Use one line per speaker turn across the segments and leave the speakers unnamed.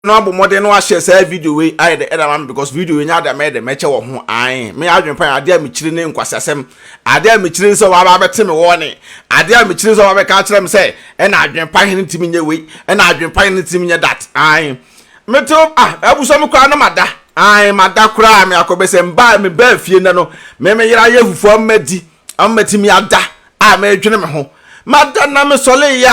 no abɔ mmɔden no ahyɛ saa video wei ayɛ dɛ ɛda ma me because video wei nyɛ ade a mɛyɛ dɛ mɛkyɛ wɔ ho ae me adwene pa adeɛ a mekyiri ne nkwaseasɛm adeɛ a mekyiri sɛ wɔaba abɛte me wɔne adeɛ a mekyiri sɛ wɔaba bɛka akyerɛ me sɛ ɛna adwene pa hene ntumi nyɛ wei ɛna adwene pa hene ntumi nyɛ that ae mete ah abusua me koraa no mada ae mada koraa me akɔbɛsɛ mbaa me baa fie nnɛ no me me yera yɛ fufuo ama di ama matumi ada a meredwene me ho mada na mesɔre yɛ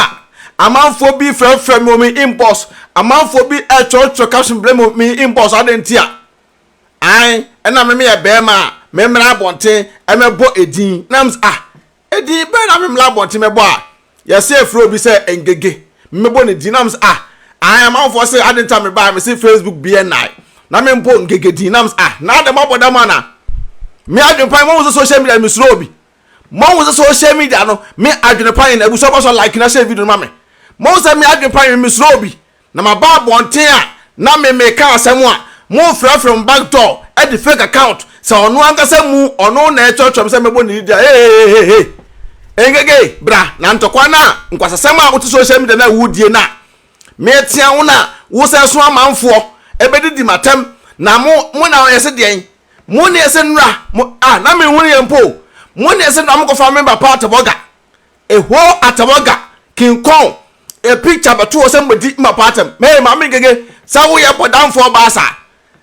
a amanfoɔ bi frɛfrɛ me wɔ me inbox amanfoɔ bi ɛtwerɛtwerɛ caption brɛ me me inbox ade nti a an ɛna me meyɛ bɛrima a memmra abɔnten ɛmɛbɔ edin na m ah edin bɛrɛ na memmra abɔnten mɛbɔ a yɛse yɛfrɛ obi sɛ ngege mmɛbɔ ne din nam sɛ ah ahan amanfoɔ se ade nta me baa me se facebook bn nae na me mbɔ ngege din nam sɛ ah na ade mabɔ dam ana me adwene pan mahu sɛ social media me suro obi mahu sɛ social media no me adwene pan na abusua bɔ so like na hyɛ video no ma me mahu sɛ me adwene pan me suro obi Na maba abɔnten a na me meka asɛm a monfrɛfrɛ mo back door de fake account sɛ ɔno ankasa mu ɔno na ɛkyerɛkyerɛ me sɛ mɛbɔ ne didi a hehehehe engegei bra na ntɔkwa no a nkwasasɛm a wote social media no a wodie no a meɛtea wo no a wosɛ so amanfoɔ ɛbɛdidi matɛm na mo mo na ɔyɛ se deɛn mo ne ɛsɛ nnura mo a na menhunu yɛ mpo mo ne ɛsɛ nnura mo kɔfa me ba paatɛbɔga Eho Atawaga kin kɔn e picture bɛto hɔ sɛ madi mma pa atɛm. Hey Maame Ngege sɛ woyɛ bɔdamfoɔ baa saa.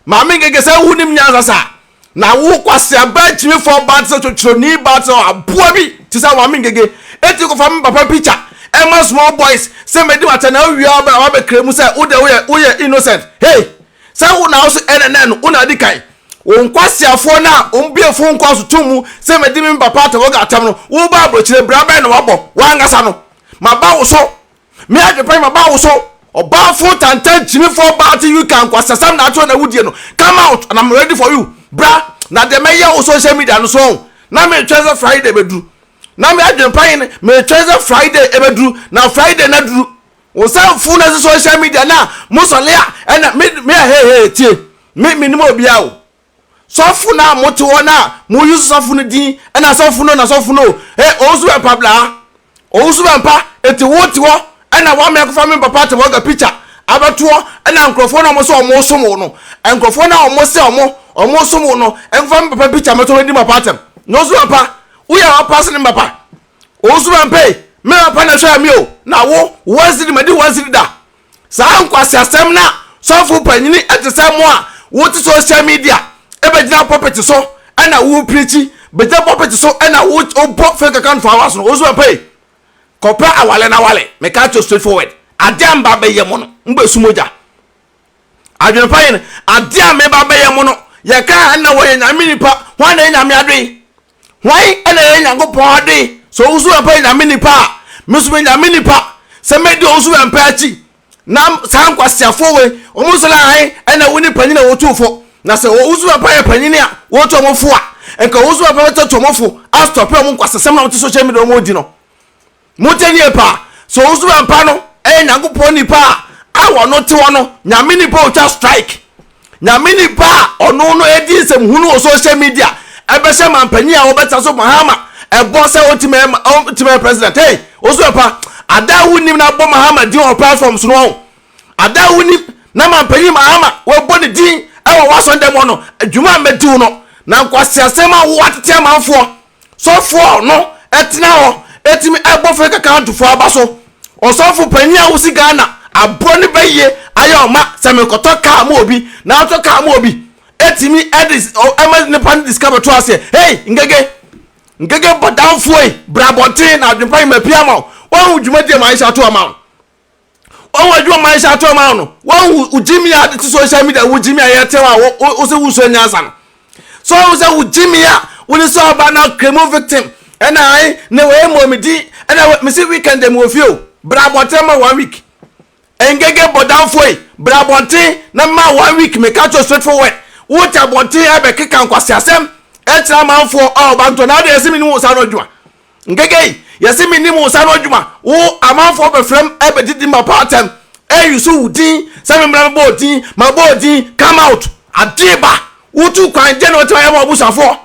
Maame Ngege sɛ wonim nyansa saa. Na wo kwasea baa gyimifoɔ baa te sɛ twotwonii baa te sɛ aboa bi te sɛ Maame Ngege. Eti kɔfa me papa picture ɛma small boys sɛ madi m'atɛm na awia wobɛba wabɛkra mu sɛ wo deɛ woyɛ woyɛ innocent. Hey! Sɛ wo na wo so ɛna nɛ no wo na adi kan. Wo nkwaseafoɔ no a wɔn bue fon kɔɔ so too mu sɛ madi me papa Tawagga atɛm no, wo ba abrokyire bra bɛn na wabɔ wo ankasa no? Maba wo so! Me Adepanyin maba wo so! Ɔbaafo tantan gyimifoɔ baa te you ka nkwaseasɛm na akyerɛ wo na wo die no, come out and am ready for you! Bra na deɛ mɛyɛ wo social media no so ɔn? Na me twɛn sɛ Friday bɛduru. Na me Adepanyin me twɛn sɛ Friday ɛbɛduru na Friday no aduru. wo sɛ mfo na ɛsɛ social media na mo sɔle a ɛna me me ɛhɛhɛ tie me me nim obia o sɔfo na mo te hɔ na mo use sɔfo no din ɛna sɔfo no na sɔfo no e ɔwusu bɛ mpa bla ɔwusu bɛ mpa eti wo te hɔ ɛna wa mɛ kofa me papa te hɔ ga picture abɛtoɔ ɛna nkurɔfoɔ na ɔmo sɛ ɔmo som wo no nkurɔfoɔ na ɔmo sɛ ɔmo ɔmo som wo no ɛnfa me papa picture mɛtɔ me di papa atɛm na ɔwusu bɛ mpa woyɛ ɔpa se ne papa Ɔwusu ma mpei, me papa na ɛhwɛɛ me o, na wo, once di madi once di da. Saa nkwaseasɛm na sɔfo panyini te sɛ mo a wote social media bɛgyina pulpit so na wo preachi, bɛgyina pulpit so na wo wobɔ fake account for hours no, ɔwusu ma mpei. Kɔpɛ awale na wale, meka kyerɛ straight forward. Adeɛ a mba bɛyɛ mo no, mo bɛsu mogya. Adwene pa yɛ no, adeɛ a meba bɛyɛ mo no, yɛka a ɛna wɔyɛ nyame nipa, hwan na ɛyɛ nyame adoe? Hwan na ɛyɛ Nyankopɔn ade? Sɛ ɔwo nso bɛpɛ Nyame nipa a, me nso meyɛ Nyame nipa, sɛ mɛdi ɔwo nso bɛmpɛ akyi. Na saa nkwaseafoɔ wei, wɔn nso na han na ɛwɔ ne panyin a wɔtu fo. Na sɛ ɔwo nso bɛpɛ ayɛ panyin a wɔtu wɔn fo a, nka ɔwo nso bɛpɛ bɛtɔto wɔn fo, astɔpe wɔn nkwasasɛm na wɔte social media wɔn di no. Mote nneɛ pa? Sɛ wo nso bɛmpa no ɛyɛ Nyankopɔn nipa a a wɔno te hɔ no Nyame nipa otwa strike Nyame nipa a ɔno no ɛdi nsɛm hunu wɔ social media ɛbɛhyɛ manpanyin a wɔbɛtra so Mahama ɛbɔ sɛ ɔntimi ɛma ɔntimi ɛyɛ president hey wo nso bɛpa ada a wonim na abɔ Mahama din wɔ platform so no ɔho ada a wonim na manpanyin Mahama wɔbɔ ne din ɛwɔ wasɔn dɛm hɔ no adwuma a mɛdiw no na nkwasiasɛm a wo atete amanfoɔ Sɔfo a ɔno tena hɔ tumi bɔ fɛn kaka to fo aba so. Ɔsɔfo panyin a ɔsi Ghana aboa no bɛyɛ ayɛ ɔma sɛ mekɔtɔ kaa ma obi na atɔ kaa ma obi tumi de ɛma nipa no de sika bɛto aseɛ. Hey Ngege! Ngege bɔdamfoɔ yi bra abɔnten na adwempa yi mapia ama wo. Wahu dwumadie a Maisha to ama wo no. wɔn adwuma ma ɛhyɛ ato ma no wɔn wogyimi a ti social media wogyimi a yɛte hɔ a wosɛ wosua nyansa no so wɔn sɛ wogyimi a wone sɛ ɔba na kremo victim ɛna ayi na wɔyɛ mmɔ me din ɛna mesi weekend mu wɔ fie o bra abɔnten ma one week ngege bɔdanfoɔ yi bra abɔnten na ma one week meka kyerɛ straight forward wote abɔnten ɛbɛkeka nkwasiasɛm ɛkyerɛ amanfoɔ a ɔba ntɔ na adeɛ ɛsɛ me ne wo saa no adwuma Nkekei, yɛse mennim wo nsa ano adwuma, wo amanfoɔ bɛfrɛm ɛbɛgye din mapa atɛm, ɛyi so wo din sɛ memmra mebɔ odin, mabɔ odin, come out, adeɛ ba, wotu kwan, deɛ na watumi ayɛ ma w'abusuafoɔ?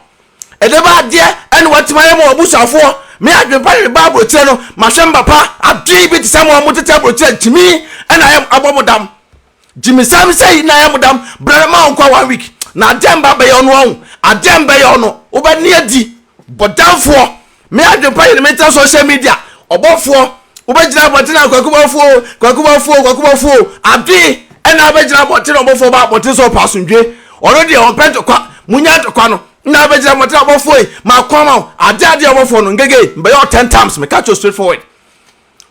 Ɛdeɛ ba adeɛ ɛna watumi ayɛ ma w'abusuafoɔ? Me adwene pa hwɛ ba aburokyerɛ no, mahwɛ mba pa, adeɛ yi bi te sɛ mo a motete aburokyerɛ gyimi ɛna ayɛ abɔ mo dam. Gyimi sɛm sɛ yi na yɛ modam brɛ ma ɔnkɔ one week na adeɛ mba bɛyɛ ɔno ɔho adeɛ mbɛyɛ ɔno wobɛ ne adi bɔdamfoɔ me adwempa yɛ ne me tra social media ɔbɔfoɔ wobɛ gyina abɔnten a kwaku bɔfoɔ o kwaku bɔfoɔ o kwaku bɔfoɔ o adwene ɛna abɛ gyina abɔnten ɔbɔfoɔ ba abɔnten sɛ ɔpɛ asomdwe ɔno deɛ ɔmpɛ ntɔkwa munya ntɔkwa no na abɛ gyina abɔnten ɔbɔfoɔ yi ma kɔma o adeɛ adeɛ ɔbɔfoɔ no ngege mbɛyɛ ɔ ten times me catch you straight forward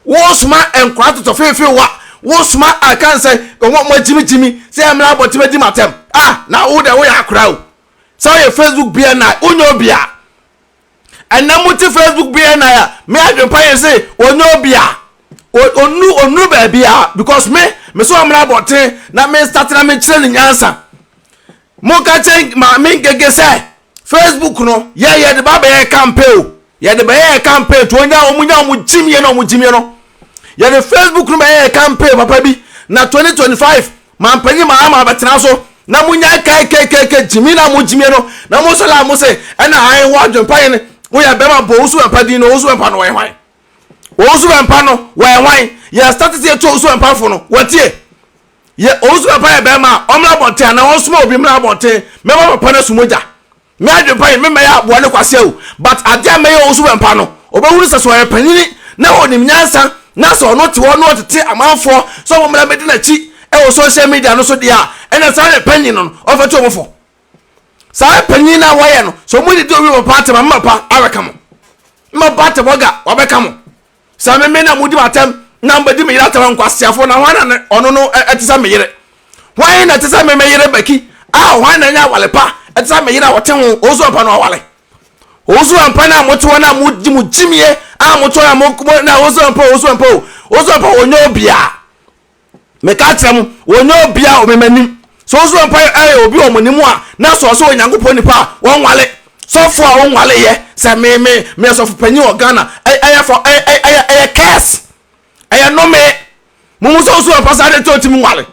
Wosoma nkora totɔ feefee wa, wosoma kan sɛ wɔn a wɔagyimi gyimi sɛ yɛmmra abɔnten mmɛdi m'atɛm. Ah, na wo deɛ woyɛ akora o. Sɛ woyɛ Facebook BNI, wonyɛ obi a. Ɛnɛ mote Facebook BNI a, me adwempa yɛ se ɔnyɛ obi a. Onu, onuru baabi a, because me, me sɛ ɔmmra abɔnten na me start na mekyerɛ ne nyansa. Moka kyerɛ Maame Ngege sɛ Facebook no yɛ yɛde ba bɛyɛ campaign o. Yɛde bɛyɛ campaign to onya wɔn nya wɔn gyimie na wɔn gyimie no. Yɛde Facebook no bɛyɛ campaign papa bi na 2025 mampanyin ma ama abɛtena so na mo nya kkkk gyimie na mo gyimie no na mo sɔre a mo se ɛna han ho adwempa yɛn woyɛ bɛma bɔ osu bɛmpa din no osu bɛmpa no wɔyɛ hwan osu bɛmpa no wɔyɛ hwan yɛ status yɛ to osu bɛmpa fo no wɔtie Yɛ ɔwusu papa yɛ bɛrima a ɔmmra abɔnten anaa ɔnsoma obi mmra abɔnten mɛma papa no asu mogya. Me adwene pa yi memmɛyɛ aboa ne kwasea o but adeɛ a mɛyɛ ɔwusu bɛmpa no ɔbɛhunu sɛ sɛ ɔyɛ panyini na ɔnim nyansa na sɛ ɔno te hɔ na ɔtete amanfoɔ sɛ wɔmmra mmɛdi n'akyi wɔ social media no so deɛ a ɛna saa yɛ panyin no no ɔmfɛto wɔn fo. Saa yɛ panyin no a wɔyɛ no sɛ wɔn didi owi wɔ papa atɛm a mma pa abɛka mo. Mma pa atɛm ɔga wabɛka mo. Sɛ me me na modi m'atɛm na mobɛdi me yere atɛm a, nkwaseafoɔ, na hwan na ɔno no ɛte sɛ me yere? Hwan na ɛte sɛ me me yere Bɛki a hwan na ɛnyɛ awale pa ɛte sɛ me yere a wɔte ho ɔwusu ampa no awale? Ɔwusu ampa no a mote hɔ no a mogye mo gyimie a mote hɔ na mo na ɔwusu ampa ɔwusu ampa o ɔwusu ampa wɔnyɛ obiara meka akyerɛ mo, wɔnyɛ obia wɔ memanim. Sɛ wo so wɔ mpa yɛ obi wɔ mo ne mu a, na sɛ ɔsɛ Onyankopɔn nipa a, wɔnwale. Sɔfo a ɔnwale yɛ, sɛ me, me, meyɛ sɔfo panyin wɔ Ghana, ɛy, ɛyɛ fɔ, ɛy, ɛy, ɛyɛ, ɛyɛ curse. Ɛyɛ nnome. Mumu sɛ wo so wɔ mpa saa de nti ɔntumi nwale.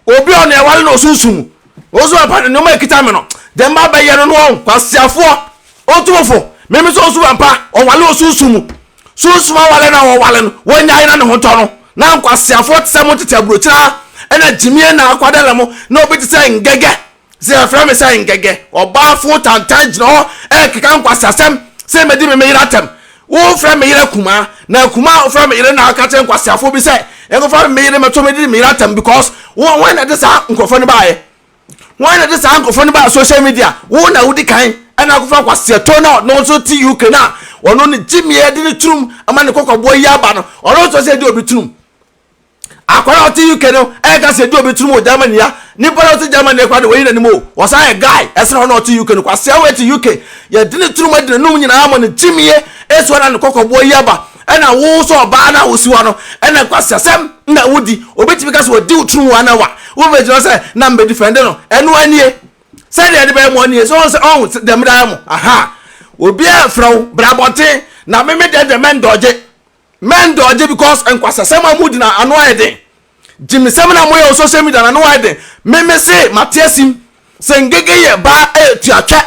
Obi a ɔne ɛwale na ɔsunsum mu. Wo so wɔ mpa, nneɛma ɛkita me no, deɛ mma bɛyɛ no no wɔn, kwasiafoɔ, otumfo, meme sɛ wo so wɔ mpa, ɔnwale ɔsunsum mu. Sunsum aware na wɔware no, wonyae na ne ho tɔ no. Ná nkwaseafoɔ te sɛ mo tete aburokyire ara na gyimie na akwadare mo, na obi te sɛ Ngɛgɛ, sɛ yɛfrɛ me sɛ Ngɛgɛ, ɔbaa foo tantan gyina hɔ rekeka nkwaseasɛm sɛ mɛdi me me yere atɛm. Wofrɛ me yere akumaa, na akumaa a wofrɛ me yere na ɔka kyerɛ nkwaseafoɔ bi sɛ yɛnkɔfa me me yere mmɛto me de me yere atɛm because wɔn na ɛde saa nkurɔfoɔ no baeɛ. Wɔn na ɛde saa nkurɔfoɔ no baa social media. Wo na wodi kan ɛna akɔfa kwaseɛtɔ na ɔno nso te UK na ɔno ne gyimie ɛde ne turum ama ne kɔkɔboɔ yi aba no ɔno nso sɛ ɛdi obi turum. Akwara ɔte UK no ɛka sɛ ɛdi obi turum wɔ Germany ya nipa na ɔte Germany ɛkora de wɔyi n'anim o wɔsan yɛ guy ɛsena ɔno ɔte UK no kwaseɛ wɔ ɛte UK yɛde ne turum ɛde n'anum nyinaa ama ne gyimie ɛso ɛna ne kɔkɔboɔ yi aba Ɛna wo nso ɔbaa no a wosi hɔ no, ɛna nkwaseasɛm na wodi. Obi tumi ka sɛ wadi wo tiri mu ana wa? Wobɛgyina hɔ sɛ na mebɛdifɛnde no. Ɛnoa nie. Sɛdeɛ ɛde bɛyɛ moa nie. Sɛ ɔhu sɛ ɔhu sɛ dɛm daa mo. Aha. Obiara mfrɛ wo. Bra abɔnten. Na me me deɛ deɛ mɛndɔɔgye. Mɛndɔɔgye because nkwaseasɛm a modi no ano ayɛ den. Gyimesɛm na moyɛ wɔ social media na ne wayɛ den. Me me se mate asim sɛ Ngege yɛ baa ɛyɛ tuatwɛ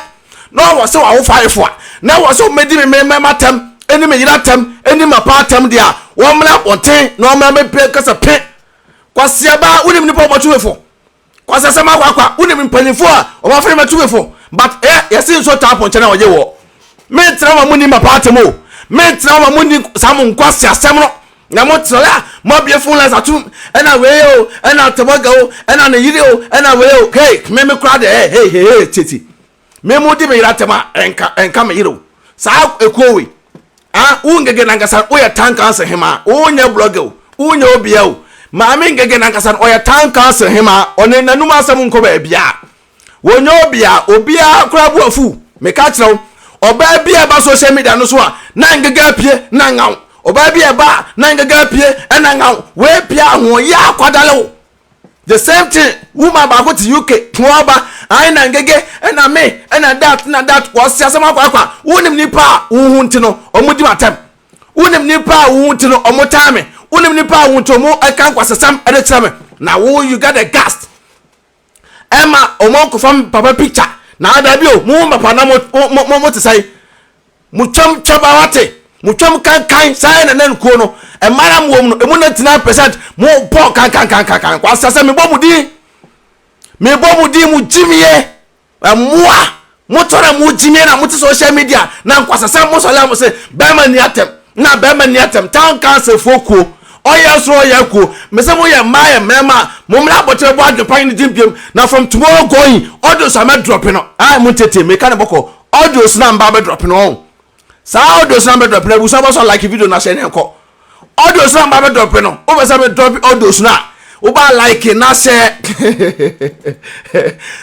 na ɔwɔ sɛ wawo fayefo a na ɛwɔ sɛ wɔbɛdi me me mɛma tɛm ɛne me yera tɛm ɛne ma paa tɛm deɛ a wɔmmra abɔnten na wɔmmra mɛpɛ kasa pe Kwasiaba wonim nipa ɔbɔtwewefo Kwasasɛm akwakwa wonim mpanyinfoɔ a wɔn afei ma tumifo but ɛ yɛsi nso taa pɔnkyɛ na wɔgye wɔ me ntena wɔn ni ma paati mu me ntena wɔn mu ni saa mo nkwa si asɛm no na mo tena ya mo abie fun lines atum ɛna wei o ɛna tɛbɔga o ɛna ne yiri o ɛna wei o hey me me kura de ɛ hey hey hey titi. me mo di me yere atɛm a ɛnka ɛnka me yere o saa ekuo wei ah wo ngege nankasa wo yɛ town council hemaa wo nyɛ blogger o wo nyɛ obia o maame ngege nankasa no ɔyɛ town council hemaa ɔne nanum asɛm nkɔ baabia wɔn nyɛ obia obia koraa bu afu meka kyerɛ wo ɔbaa bi a ɛba social media no so a na ngege apue na ngaw ɔbaa bi a ɛba na ngege apue ɛna ngaw wei pia ahoɔyɛ akwadale o the same thing woman baako te uk toaba ayi na ngege ɛna me ɛna dat na dat wɔsi asɛm akwaakwa wonim nipa a wo ho nti no ɔmo di m'atɛm wonim nipa a wo ho nti no ɔmo tan me wonim nipa a wo nti ɔmo ɛka nkwasasɛm ɛde kyerɛ me na wo you get the gast ɛma ɔmo nkɔfa papa picture na ada bi o mo ho papa na mo mo mo te sɛn Motwam twam a wate, motwam kankan saa yɛ nana nkuo no, mmara a mowɔ mu no, emu 99 percent mo pɔ kankankankankan, kwasa sɛ mebɔ mo din, mebɔ mo din, mo gyimie, mmoa, motɔ na mo gyimie na mote social media, na nkwasa sɛ mo sɔlɛ mo se, bɛrima ni atɛm, na bɛrima ni atɛm, town council foɔ kuo, ɔyɛ soro ɔyɛ kuo, me se mo yɛ mmaa yɛ mmarima a, mo mmra abɔkyerɛ bɔ adwempa yi ne din biam, na from tomorrow going, audio so a mɛ drop no, ae montiatie, meka no bɔkɔ, audios na mba bɛdrɔp no ɔho saa audios na bɛdrɔp no abusua bɛsɔ like video no ahyɛ ne nkɔ audios na mba bɛdrɔp no wopɛ sɛ medrɔp audios no a woba like na hyɛ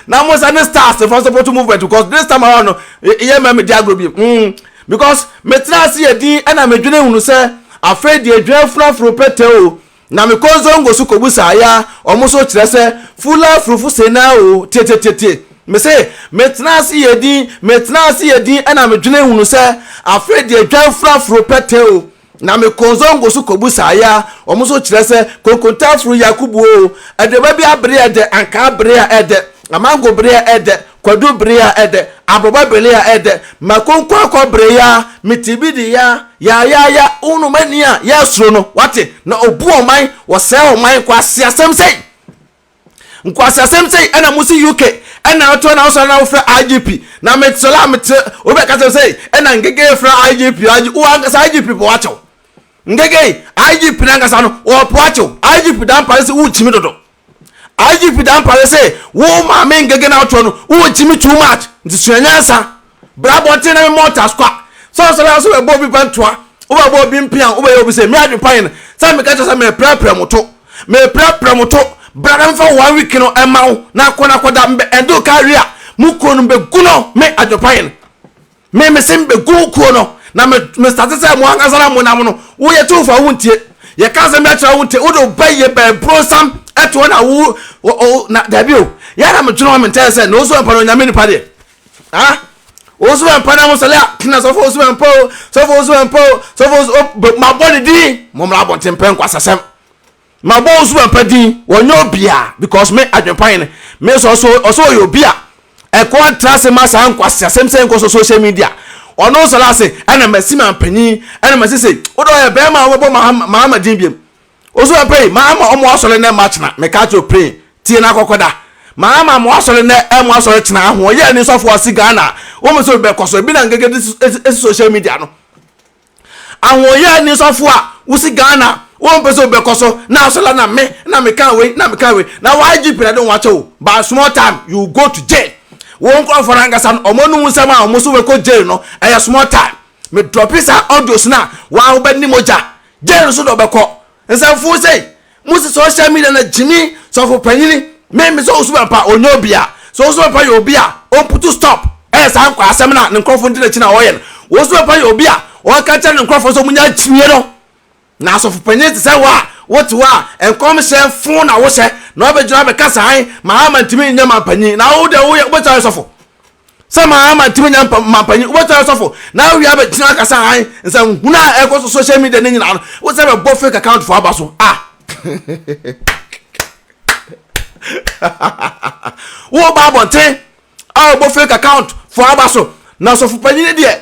na mo sɛ ne stars fa support movement because this time around no yɛ mɛ me di agorɔ bi mm because metena ase yɛ din ɛna medwene hunu sɛ afei deɛ dwan funu aforo pɛtɛ o Na me kɔ zongo so kɔ busa ya ɔmo so kyerɛ sɛ fula furufo se na o tietietie me se me tena ase yɛ din me tena ase yɛ din ɛna me dwene hunu sɛ afei deɛ dwan fura foro pɛtɛ o na me kɔ zongo so kɔ busa ya ɔmo so kyerɛ sɛ konkonta furu yakubu o aduaba bi abere ɛdɛ ankaa bere a ɛdɛ amango bere a ɛdɛ Kwadu bere a ɛdɛ, Aboba bere a ɛdɛ, Mako nkwaakwa bere ya, Mitibidi ya, Yayaya, Wunu m'ani a yɛresuro no, wate, Na obu ɔman, wɔsɛe ɔman, Nkwaseasɛm sei, nkwaseasɛm sei, Ɛna mosi UK, ɛna wotoa na wosɔre na wofrɛ IGP, Na mesɔre a metrɛ, obi bɛka kyerɛ me sɛ, Ɛna Ngegei frɛ IGP, IGP, Wo ankasa IGP po akyɛw, Ngegei, IGP no ankasa no, ɔpo akyɛw, IGP Dampare se worekyimi dodo. IGP Dampare se wo maame ngege na wotoɔ no wo gyimi too much nti sua nyansa bra abɔnten na me mmɔ taskwa sɛ ɔsɔre a sɛ wobɛbɔ obi pantua wobɛbɔ obi mpea wobɛyɛ obi sɛ me adwempanyin no sɛ meka kyerɛ sɛ meprɛprɛ mo to meprɛprɛ mo to bra na mefa one week no ɛma wo na akɔ na akɔda mbɛ ɛnde wo ka awie a mo kuro no mbɛgu no me adwempanyin Me mese mebɛgu wo kuo no na me mestate sɛ mo ankasa na mo nam no wo yɛ tumfoɔ a wontie yɛka asɛm bi akyerɛ wo wontie wode wo ba yɛ bɛɛ bronsam ɛtoɔ na wo o na daabi o yɛ na medwene hɔ mentɛɛ sɛ na wo so ɛmpa no onyame nipa deɛ ah wo so ɛmpa na mo sɛlɛ a na sɔfo wo so ɛmpa o sɔfo wo so ɛmpa o sɔfo wo so mabɔ ne din mo mmra abɔnten pɛ nkwasasɛm Ma bɔ osu papa din wɔnyɛ obia because me adwenpan no me sɛ ɔsɛ ɔsɛ ɔyɛ obi a ɛkɔ ntra ase ma saa nkwasi asɛm sɛ nkɔ so social media ɔno nsɔre ase ɛna masi ma mpanyin ɛna masi se wode ɔyɛ bɛrima a wɔbɛbɔ mahama mahama din biem osu papa yi mahama ɔmo asɔre nɛ ma kyena meka kyerɛ pray tie na kɔkɔda mahama mo asɔre nɛ ɛmo asɔre kyena aho ɔyɛ ne sɔfo ɔsi ghana wɔn mo sɛ obi bɛkɔ so ebi na ngegede esi social media no Ahoɔyaa ni sɔfo a wosi Ghana wompɛ sɛ wobɛkɔ so na asɔre la na me na meka wei na meka wei na wo IGP na de wo akyɛ wo but small time you go to jail wo nkorɔfoɔ no ankasa no ɔmo anom nsɛm a ɔmo so wɛkɔ jail no ɛyɛ small time me drɔpi saa audios no a waa wobɛne mogya jail so na ɔbɛkɔ Nsɛmfoo sei, mo se social media na gyimi sɔfo panyini me me sɛ osuban pa ɔnyɛ obi a sɛ osuban pa yɛ obi a ɔmputu stop ɛyɛ saa nkwaa asɛm na ne nkorɔfo ndi nakyi na ɔyɛ no osuban pa yɛ obi a ɔka kyerɛ ne nkorɔfo sɛ ɔmo nya gyimie no na asɔfo panyini te sɛ wo a wote hɔ a nkɔmhyɛ foo na wo hyɛ na ɔbɛ gyina abɛ kasa han ma ama ntumi nyɛ manpanyin na wo deɛ wo yɛ wobɛtumi ayɛ sɔfo Sɛ maa matumi nya mampanyin, wobɛtena asɔfo na awie abɛtena akasa han nsɛnhunu a ɛkɔ so social media ne nyinaa no, wo sɛ bɛbɔ fake account fo aba so a. Wo ba abɔnten a bɛbɔ fake account fo aba so, na asɔfo panyin deɛ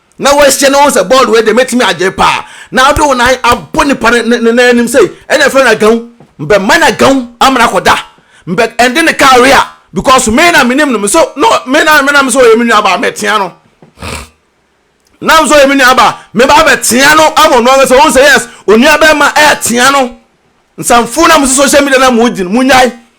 na wahyɛ ne ho sɛ bɔɔl wei deɛ mɛtumi agye paa na wode wo nan abɔ nipa ne ne nan anim sei ɛna ɛfrɛ no agawu mbɛ ma no agawu amena kɔda mbɛ ɛnde ne kaa wea because me na menim no me so no me na me na me so ɔyɛ me nua baa mɛtea no na me so ɔyɛ me nua baa me baa bɛtea no ama no ankasa wɔn sɛ yes onua bɛrima ɛɛtea no nsanfo na mo so social media na mo di no mo nyae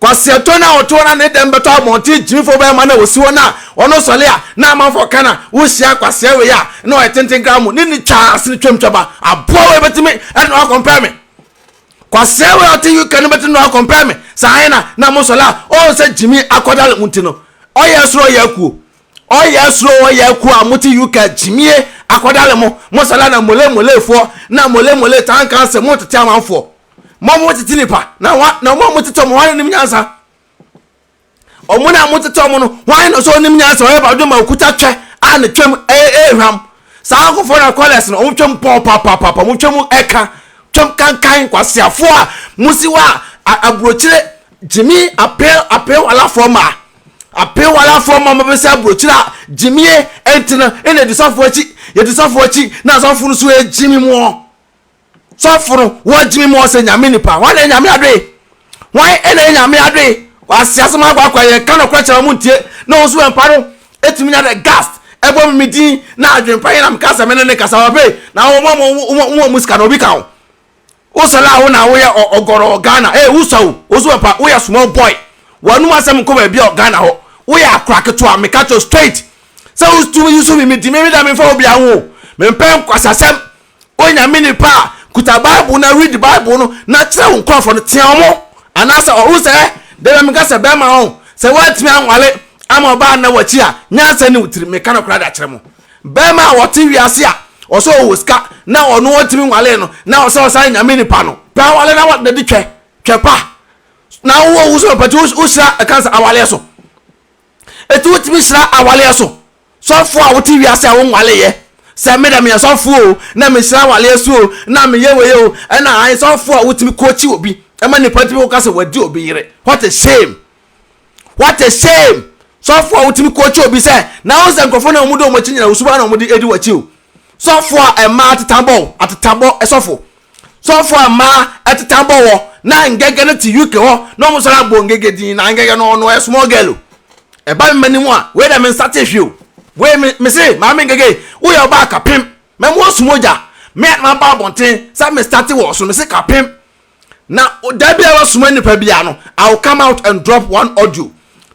Kwasiato no a ɔte hɔ na ne dɛm bɛtɔ abɔnten gyimfo bɛrima no a ɔsi hɔ no a ɔno sɔle a na amanfoɔ ka no a wohyia kwasea wei a na ɔyɛ tenten koraa mu ne no twaa asene twam twaba aboa wei bɛtumi ɛde no akɔmpɛɛ me kwasea wei a ɔte UK no bɛtumi no akɔmpɛɛ me saa he na na mo sɔle a ɔhu sɛ gyimi akɔdale mu nti no ɔyɛ soro ɔyɛ akuo ɔyɛ soro ɔyɛ akuo a mote UK gyimie akɔdale mo mo sɔle a na mole molefoɔ na mole mole tankanse mo tete amanfoɔ Mo a motete nipa, na hwa na wɔn a motete wɔn hwan nim nyansa? Wɔn a motete wɔn no, hwan na sɛ ɔnim nyansa ɔyɛ ba dwom a okuta twɛ a ne twɛm ɛyɛ ɛyɛ hwam. Saa nkorɔfoɔ na kɔlɛs no wɔn twɛm pɔɔ papaapa wɔn twɛm ɛka twɛm kankan kwasiafoɔ a mosi hɔ a aburokyire gyimi apɛ apɛ walafoɔ ma apɛ walafoɔ ma mobɛsɛ aburokyire a gyimie ɛnti no ɛna yɛdi sɔfoɔ akyi yɛdi sɔfoɔ akyi na sɔfoɔ no so ɛgyimi moɔ. sɔfo no wɔgyimi mu ɔsɛ nyame nipa wɔn na nyame adoe wɔn na nyame adoe wɔase asɛm akɔ akɔ yɛ ka no korɛ kyerɛ wɔn ntie na wɔn nso wɔn mpa no etumi nya dɛ gast ɛbɔ mi mi din na adwene pa yɛ na mi ka sɛ mi ne ne kasa wɔ pay na wɔn wɔn wɔn wɔn mu sika na obi ka ho wosɛ la wo na woyɛ ɔgɔrɔ ghana ee wosɛ o woso wɔn pa woyɛ small boy wɔn anum asɛm nkɔ baabi a ghana hɔ woyɛ akora ketewa mi ka kyerɛ straight sɛ wotumi yi so mi mi di mi mi da mi nfa obi aho mi mpɛ nkwasasɛm Onyame nipa a kuta bible na read bible no na kyerɛ wo nkurɔfoɔ no tea ɔmo anaasɛ ɔho sɛ da bia meka sɛ bɛrima ho sɛ woantumi anwale ama ɔbaa nna wakyi a nyansa ni wo tiri meka no koraa de akyerɛ mo bɛrima a ɔte wiase a ɔsɛ ɔwɔ sika na ɔno ɔntumi nwalee no na ɔsɛ ɔsan nyame nipa no pɛ awale na wɔde de twɛ twɛ pa na wowɔ wo so pɛti wohyira ɛka sɛ awaleɛ so ɛti wotumi hyira awaleɛ so Sɔfo a wote wiase a wonnwaleeɛ sɛ me dɛ meyɛ sɔfo o na mehyira awareɛ so o na meyɛ wei o ɛna ae sɔfo a wotumi kookyi obi ma nnipa tumi koka sɛ wadi obi yere what a shame what a shame sɔfo a wotumi kookyi obi sɛ na wo sɛ nkurɔfoɔ na wɔn de wɔn akyi nyina wo suban na wɔn de edi w'akyi o sɔfo a ɛmaa atetabɔ atetabɔ sɔfo Sɔfo a mbaa ɛteta bɔ wɔ na Ngege no te UK hɔ na ɔmo san abɔ Ngege din na Ngege no ɔno ɔyɛ small girl o. Ɛba me mani mu a wei deɛ me nsatee hwee o. Wei me me se Maame Ngege wo yɛ ɔbaa kapem mɛma woasu mogya me a na maba abɔnten sɛ me starte wɔ ɔso me se kapem na da bi a wobɛsoma nnipa bi a no I will come out and drop one audio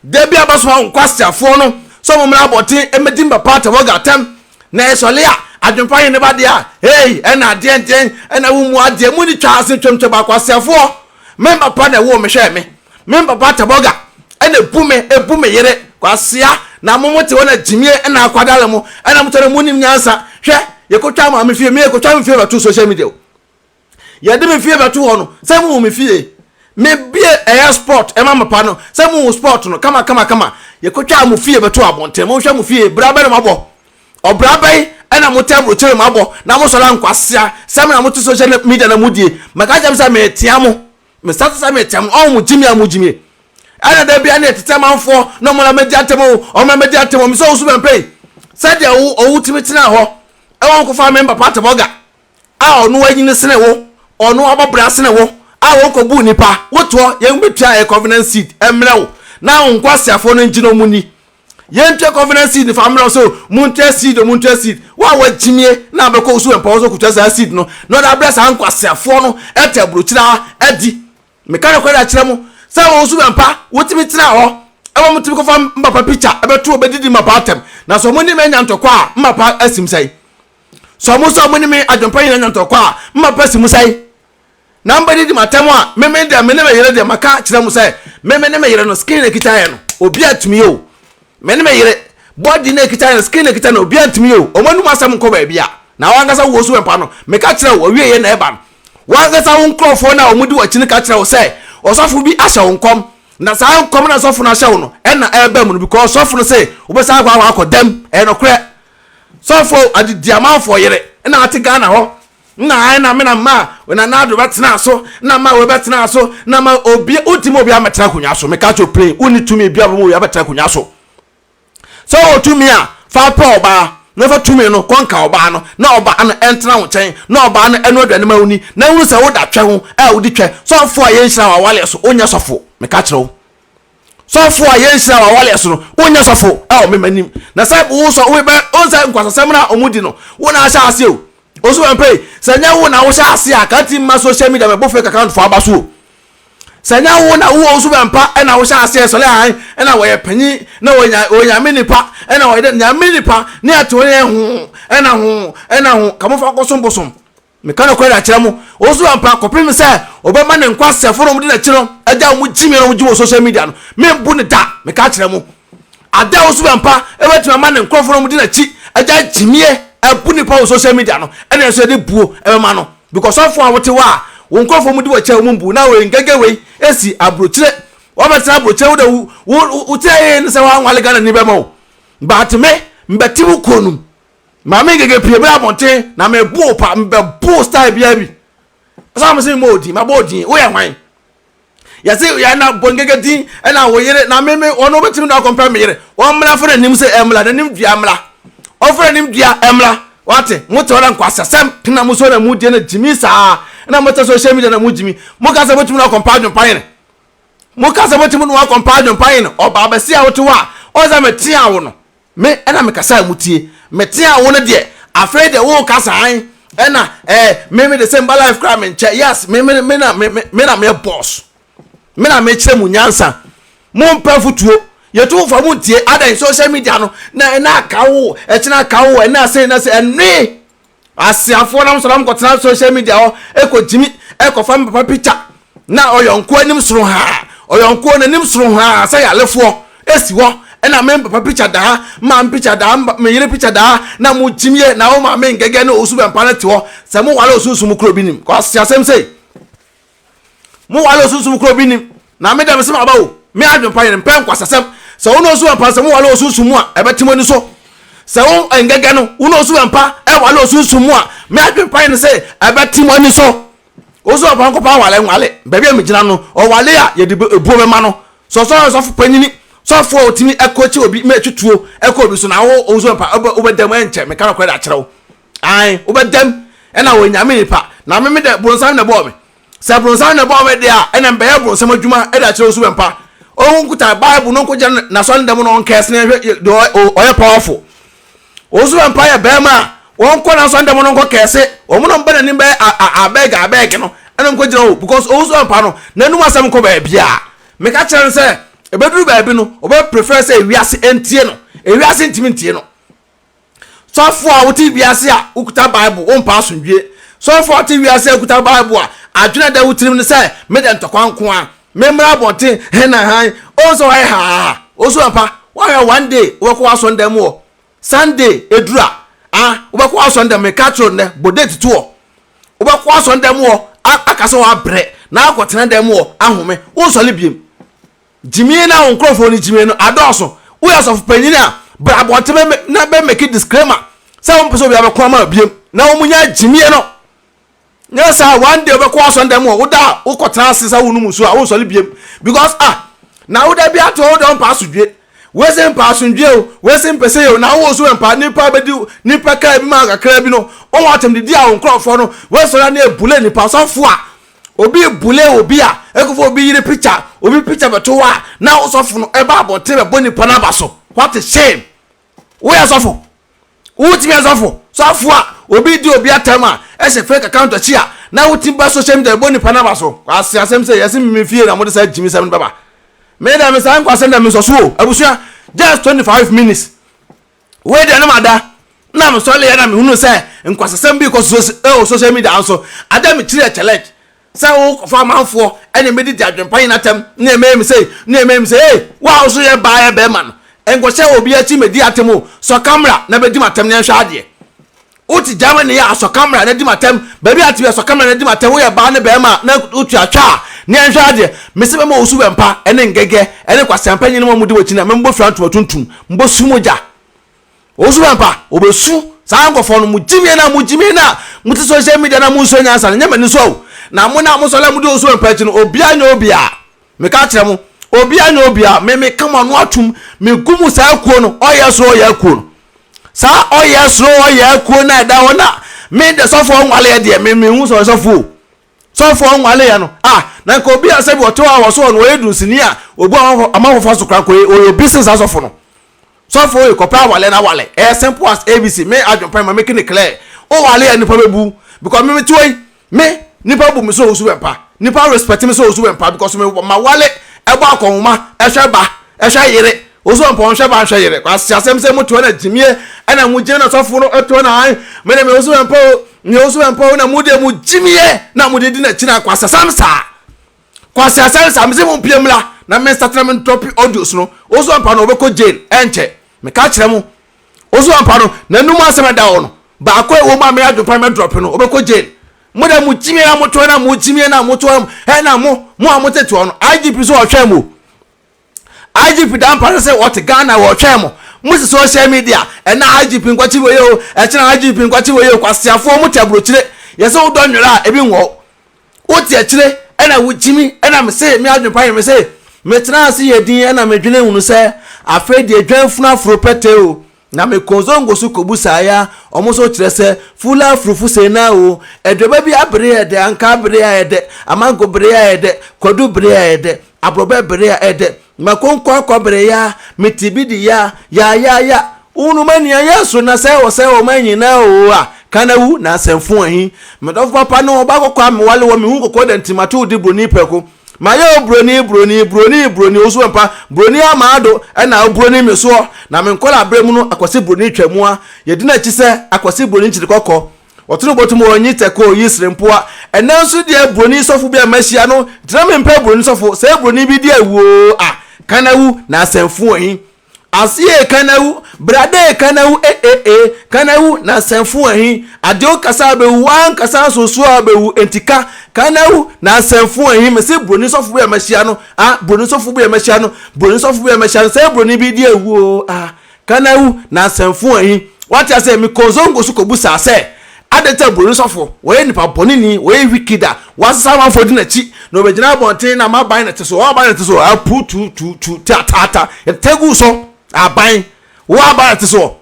da bi a wobɛsoma wo nkwaseafoɔ no sɛ ɔmo mmra abɔnten mmɛdi me papa Tavoga atɛm na ɛsɔle a adwempa yɛ ne ba deɛ a hey ɛna adeɛ nten ɛna wo mu adeɛ mu ne twa ase twamtwam akwaseafoɔ me papa na ɛwoo me hwɛ me me papa tɛbɔga ɛna ebu me ebu me yere kwasea na mo mo te hɔ na gyimie ɛna akwadala mu ɛna mo tɔ na mo nim nyansa hwɛ yɛkɔtwa maame fie me yɛkɔtwa me fie bɛto social media o yɛde me fie bɛto hɔ no sɛ mo wɔ me fie me bie ɛyɛ sport ɛma mapa no sɛ mo wɔ sport no kama kama kama yɛkɔtwa mo fie bɛto abɔnten mo nhwɛ mo fie bra bɛ na mo abɔ ɔbra bɛyi ɛna mo tɛbro kyerɛ mo abɔ na mo sɔrɔ ankwasea sɛ mo na mo te social media na mo die mɛka kyɛm sɛ metea mo mesa te sɛ metea mo ɔn mo gyimi a mo gyimi ɛna da bia ne ɛtetɛ manfoɔ na ɔmo na mɛdi atɛm o ɔmo na mɛdi atɛm o mesɛ wo so bɛmpɛ yi sɛdeɛ ɔwo tumi tena hɔ ɛwɔ nkɔfa me mpapa atɛbɔga a ɔno anyini sene wo, ɔno abɔ bra sene wo, a wɔkɔbu nnipa, wotoɔ, yɛn bɛtua yɛn covenant seed mmerɛ wo, na wo nkwaseafoɔ no ngyina ɔmo ni. Yɛn ntua covenant seed fa mmerɛ wo sɛ montua seed o, montua seed. Wo a wagyimie na abɛkɔ wo so wɔ mpawa so kɔtua saa seed no, na ɔde abrɛ saa nkwaseafoɔ no ɛte aburokyire a, adi. Meka nokorɛ de akyerɛ mo, sɛ wɔ wo so wɛmpa, wotumi tena hɔ, ɛma motumi kɔfa mmapa picture ɛbɛto ɔbɛdidi mmapa atɛm, na sɛ ɔmo ne me anya ntɔkwa a, mmapa asim sɛn? Sɛ wɔn sɛ wɔne me adwempa nyina nya ntɔkwa a, mma pɛ si mu sɛe. Na mobɛdidi m'atɛm a meme deɛ mene me yere deɛ maka akyerɛ mo sɛ meme ne me yere no skin na ɛkita yɛn no, obiara ntumi yɛ o. Mene me yere, body na ɛkita yɛn no, skin na ɛkita no, obiara ntumi yɛ o. Wɔn anom asɛm nkɔ baabi a. Na wo ankasa wowɔ so wɔ mpa no, meka kyerɛ wo, w'awieɛ na ɛba no. Wo ankasa wo nkurɔfoɔ no a wɔdi w'akyi no ka kyerɛ wo sɛ, ɔsɔfo bi ahyɛ wo nkɔm, na saa nkɔm no a ɔsɔfo no ahyɛ wo no na ɛreba mu no, because ɔsɔfo no se wobɛsan akɔ akɔ dɛm. Ɛyɛ nokorɛ. Sɔfo Adidi Amanfoɔ yere na ɔte Ghana hɔ na ayɛ na me na ma Nana Addo bɛtenaa so na ma wei bɛtenaa so na ma obi wontimi ma obi ammɛtena akonnwa so meka kyerɛ wo plain wonni tumi bia bɛma obi abɛtena akonnwa so sɛ wɔ tumi a fa pɛ ɔbaa na fa tumi no kɔnka ɔbaa no na ɔbaa no ɛntena wo nkyɛn na ɔbaa no ɛno aduane ma woni na hunu sɛ woda twɛ ho a wodi twɛ sɔfo a yɛnhyira wɔ awaleɛ so wonyɛ sɔfo meka kyerɛ wo sɔfo a yɛnhyira wɔ awale so no wonyɛ sɔfo ɛwɔ me m'anim na sɛ wo sɔ wo bɛ wo sɛ nkwasasɛm na ɔmo di no wo na ahyɛ ase o osu bɛn pay sɛ nyɛ wo na wohyɛ ase a kanti mma social media mɛbo fake account fo aba so o sɛ nyɛ wo na wo osu bɛn pa ɛna wohyɛ ase ɛsɔle han ɛna wɔyɛ panyin na wɔnya wɔnyame nipa ɛna wɔyɛ dɛ nyame nipa ne ɛte wɔn yɛ ho ɛna ho ɛna ho kamofa kɔsom bosom Meka nokware akyerɛ mo, osu ampa kɔpem sɛ ɔbɛma ne nkwasɛfo nom de n'akyi no agya wɔn gyimii a na wɔgye wɔ social media no, membu no da. Meka akyerɛ mo, ada a osu ampa bɛtumi ama ne nkurɔfo nom de n'akyi agya gyimie abu nipa wɔ social media no, ɛne nso yɛde buo bɛma no. Because sɔfo a wote hɔ a wo nkurɔfo mu di w'akyi a wɔn mbu na wei ngɛngɛ wei esi abrokyire, wabɛtena abrokyire wo de wo wo wo tira yeye ne sɛ wanwale Ghana ni bɛma wo, but me mbɛte wo kuo nom. Maame Ngege pue bra abɔnten na me bo pa mbɛ bo style bia bi. Asa mo se mo odin ma bo odin wo yɛ hwan. Yɛ se yɛ na bo Ngege din na wo yere na me me wɔn no betimi na akɔmpɛ me yere. Wɔn mmra fo n'anim se ɛmmra n'anim dua mmra. Ɔfo n'anim dua ɛmmra. Wate mo te ɔda nkwasasɛm na mo so na mo die na gyimi saa na mo te social media na mo gyimi. Mo ka sɛ mo tumi na akɔmpa adwompa yene. Mo ka sɛ mo tumi na akɔmpa adwompa yene ɔbaa bɛsi a wote hɔ a ɔsɛ me tea wo no. Me na mekasaa mu tie, meteaa wo no deɛ afei deɛ woka saan ɛna eh me me de sɛ mba life koraa menkyɛ yes me me me na me me na meyɛ boss me na mekyerɛ mu nyansa mo mpɛ futuo yɛtu wo fa mo ntie adɛn social media no na ɛna aka wo ɛkyena aka wo ɛna sɛ ɛna sɛ ɛnwee Asiafoɔ nom sɔre ɔmo kɔtena social media hɔ ɛkɔ gyimi ɛkɔfa me papa picture na ɔyɔnkoɔ anim soro haa ɔyɔnkoɔ n'anim soro haa sɛ yalefoɔ ɛsi hɔ ɛna me papa picture daa maame picture daa me yere picture daa na mo gyimie na wo maame ngɛgɛ ne osu bɛmpa no te hɔ sɛ mo wale osunsum koro bi nim kwasi asɛm sei. Mo wale osunsum koro bi nnim. Na me de mese mo aba o, me adwempa yere mpɛ nkwasasɛm. Sɛ wo ne osu ampa sɛ mo wale osunsum mu a, ɛbɛte mo ani so. Sɛ wo ngɛgɛ no, wo ne osu ampa ɛwale osunsum mu a, me adwempa yere se ɛbɛte mo ani so. Osu ampa nkopa nwale nwale. Baabi a megyina no, ɔwale a yɛde ebuo bɛma no. Sɛ ɔsɔre a ɔsɔfo panyini, sɔfo a otumi ɛkɔkye obi ma ɛtwe tuo ɛkɔ obi so na wo osu ampa wobɛda mu ɛnkyɛ, meka nokorɛ de akyerɛ wo. ae wobɛdam ɛna wɔ nyame nipa na meme dɛ bronsam na ɛbɔɔ me sɛ bronsam na ɛbɔɔ me deɛ a ɛna mbɛyɛ bronsam adwuma ɛde akyerɛ osu bɛmpa ɔhu nkuta bible no nkogya no nasɔ ne dɛm no ɔnkɛsene hwɛ deɛ ɔyɛ powerful osu bɛmpa yɛ bɛrima a wɔnkɔ nasɔ ne dɛm no nkɔ kɛse wɔn no mbɛ n'anim bɛyɛ abɛg abɛg no ɛna nkɔgyina hɔ because osu bɛmpa no n'anum asɛm nkɔ baabi a meka kyerɛ no sɛ ɛbɛduru baabi no ɔbɛ prefer sɛ ewiase ntie no ewiase ntumi ntie no Sɔfo a wote wiase a okuta Bible, wompa asomdwoe. Sɔfo a ɔte wiase a okuta Bible a adwene a ɛda wo tirim ne sɛ, Meda ntɔkwa nko ara. Memmra abɔnten he na hann. Ohu sɛ woayɛ haa. Osu ampa. Woahwɛ a one day wobɛkɔ w'asɔrdan mu hɔ. Sunday eduru a, ah, wobɛkɔ w'asɔrdan mu. Mekaa kyerɛɛ wo nnɛ, bɔ date to hɔ. Wobɛkɔ w'asɔrdan mu hɔ a, aka sɛ woabrɛ, na woakɔtena dan mu hɔ ahome. Wonsɔre biom. Gyimie na wo nkorɔfoɔ no gyimie no adɔɔso woyɛ ɔsɔfo panyin a bra abɔnten na bɛ make disclaimer sɛ wompɛ sɛ obiara bɛko ama wo biom na wɔn nya gyimie no nyɛ saa one day wobɛkɔ asɔn dɛm wɔ woda a wokɔ tena ase sɛ wonom nsu a wonsɔre biom because ah na woda bi ato woda ɔmpa asodwie wese mpa asodwie o wese mpɛ sɛ yɛ o na wo so mpa nipa bɛdi nipa kaa bi ma kakra bi no wɔn atɛm didi a wo nkorɔfoɔ no wesɔre ne ebule nipa sɔfo a Obi bule obi a, ɛkɔfa obi yere picture, obi picture bɛto hɔ a, na wo sɔfo no ɛba abɔnten bɛbɔ nipa no aba so. What a shame! Woyɛ sɔfo? Wotumi yɛ sɔfo? Sɔfo a obi di obi atam a, ɛhyɛ fake account akyi a, na wotumi ba social media bɛbɔ nipa no aba so. Kwasi asɛm sɛ yɛse me fie na mode saa gyimisɛm no bɛba. Me dɛ me saa nkwasɛm dɛ mensɔ so o, abusua. Just 25 minutes. wei deɛ ne ma da na me sɔre yɛ na me hunu sɛ nkwasasɛm bi kɔ so ɛwɔ social media nso ada me kyiri ɛkyɛ lɛt sɛ wo kɔfa amanfoɔ ɛne me didi adwempa yi n'atɛm ne ɛmɛyɛ me sei ne ɛmɛyɛ me sei ee wo a wo so yɛ baa yɛ bɛrima no nkɔhyɛ obi akyi mɛdi atɛm o sɔ kamera na bɛdi m'atɛm ne ɛnhwɛ adeɛ Wote Germany yɛ asɔkammerɛ a na di me atɛm, baabi a te yɛ asɔkammerɛ a na di me atɛm, woyɛ baa ne barima a na wotua twa a, ne yɛnhwɛ adeɛ, mese mɛma wo subɛmpa ne ngɛgɛ ne kwasɛmpa nyina ma mode wakyi na memmɔ fira ntoma tuntum, mbɔ su mu gya. Wo subɛmpa, wɔbɛsu. Saa nkɔfoɔ no, mo gyimie no a mo gyimie no a mote social media no a monsua nyansa no, nyɛ m'ani so o. Na mo no a mosɔre a modi wo subɛmpa akyi no, obiara nyɛ obiara. Meka kyerɛ mo, obiara nyɛ obiara, me meka m'ano atom, megu mo saa akuo no, ɔyɛ soro ɔyɛ akuo no. Saa ɔyɛ soro ɔyɛ akuo no a ɛda hɔ na me de sɔfoɔ nwaleɛ deɛ, me mehu sɛ ɔyɛ sɔfoɔ o. Sɔfoɔ nwaleɛ no, ah, na nka obi a sɛbi ɔte hɔ a wɔso ɔno ɔyɛ dunsini a obu ama hɔfa so koraa nka ɔyɛ obi sen saa sɔfo no. sɔfo yi kɔpɛ awale na awale ɛyɛ simple as abc me adwempa ma make ne clear o wale a nipa bɛbu because me mete yi me nipa bu me sɛ ɔsu bɛmpa nipa respect me sɛ ɔsu bɛmpa because me ma wale ɛbɔ akɔnhoma ɛhwɛ ba ɛhwɛ yere ɔsu bɛmpa ɔnhwɛ ba nhwɛ yere kwasi asɛm sɛ motoa na gyimie ɛna mo gyina na sɔfo no ɛtoa na ae me ne me ɔsu bɛmpa o me ɔsu bɛmpa o na mo deɛ mo gyimie na mo de di na kyina kwasi asɛm saa Kwasi Asare sa mese mompie mmra na me nsakyera me ndrɔpe audios no Osu Ampah no ɔbɛkɔ jail ɛnkyɛ meka kyerɛ mo Osu Ampah no nanum asɛm ɛda hɔ no baako a ɛwɔ mu a me adwempa no mɛdrɔpe no ɔbɛkɔ jail Mo dɛ mo gyimie na moto hɔ na mo gyimie na moto hɔ ɛna mo mo a motete hɔ no IGP so ɔhwɛ mo IGP da mpa so se wɔte Ghana wɔɔtwɛn mo, mo se social media, ɛnɛ IGP nkwakye wei o, ɛkyena IGP nkwakye wei o, kwaseafoɔ mo te aburokyire, yɛse wodɔ nwera a ebi nwɔw, wote akyire ɛna wogyimi, ɛna mese me adwene pa yɛ mese, metenaa ase yɛ din ɛna medwene hunu sɛ afei deɛ dwanfunu aforo pɛtɛɛ o, Na me kɔɔ Zongo so kɔ busaeɛ a wɔn nso kyerɛ sɛ Fuula Afurufu Seenaa oo, aduaba bi abere a ɛyɛ dɛ, ankaa bere a ɛyɛ dɛ, amango bere a ɛyɛ dɛ, kwadu bere a ɛyɛ dɛ, aborɔbɛ bere a ɛyɛ dɛ, mako nkwankwa bere ya, me ti bi di ya, ya ya ya, wohunu m'ania yɛ so na sɛ wɔ sɛ wɔ ma nyinaa oo a, ka na wu, na asɛmfo ahi. Me dɔfo papa ne ɔbaa kɔkɔɔ a mewale wɔ me hu kɔkɔɔ da nti mato wo de buroni prɛko. Mayɛ wo buroni, buroni, buroni, buroni, wo so mpa, buroni amado, ɛna wo buroni me soɔ, na me nkɔla berɛ mu no akwasi buroni twa mua, yɛdi n'akyi sɛ akwasi buroni kyiri kɔkɔ, ɔtene bɔtom wɔ nyi tɛkoo yi sere mpoa, ɛnɛ nso deɛ buroni sɔfo bi a mahyia no gyina me mpɛ buroni sɔfo, sɛ buroni bi di awu oo a, ka na wu, na asɛmfo wɔ he? Aseɛ ee Kanawu, brada ee Kanawu e e e, Kanawu na sɛnfo ahi, Adeɛ wo kasa a bɛwu, w'ankasa nso so a bɛwu, enti ka, Kanawu na sɛnfo ahi, mese broni sɔfo bi a mahyia no ah, broni sɔfo bi a mahyia no, broni sɔfo bi a mahyia no, sɛ broni bi di awu oo ah, Kanawu na sɛnfo ahi, wate aseɛ, me kɔɔ Zongo so kɔbusaa sɛ, Adɛn nti na buroni sɔfo, ɔyɛ nipa bɔneni, ɔyɛ wicked a wɔasesa amanfoɔ di n'akyi, na ɔbɛgyina abɔnten na ama aban no te so, wɔn aban no te so, apu tu tu tu ta ta ta ta gu so, aban, wo aban no te so,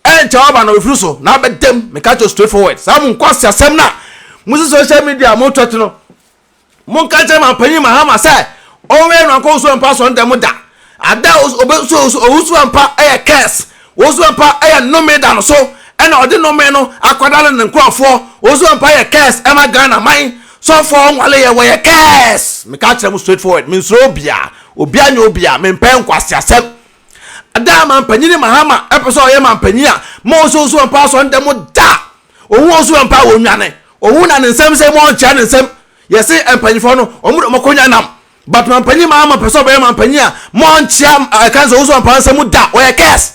ɛnkyɛ w'aban no bɛfiri so na abɛdam, meka kyerɛ wo straight forward, saa mo nkwaseasɛm no a mosi social media a moretwɛt no, Monka nkyerɛ Manpanyin Mahama sɛ ɔnwɛn no ankɔ Owusoa Mpa Asɔre da mu da. Ada a obeso Owusoa Mpa yɛ curse. Owusoa Mpa yɛ nnome da no so na ɔde nnome no akɔdale ne nkurɔfoɔ. Owusoa Mpa yɛ curse ma Ghana man. Sɔfoɔ a ɔnwaleeɛ, wɔyɛ curse. Meka kyerɛ mo straight forward, mensuro obiara. Obiara nyɛ obiara. Mempɛ nkwaseasɛm. Ada mampanyin Mahama ɛpɛ sɛ ɔyɛ mampanyin a ma ɔsɛ ɔsu mpa asɔ ndɛ mo da ɔhu ɔsu mpa wɔ nwane ɔhu na ne nsɛm sɛ mo ɔnkyerɛ ne nsɛm yɛse mpanyinfoɔ no ɔmo de ɔmo akonya nam but mampanyin Mahama pɛ sɛ ɔbɛyɛ mampanyin a ma ɔnkyerɛ ɛka nsɛ ɔsu mpa nsɛm da ɔyɛ kɛs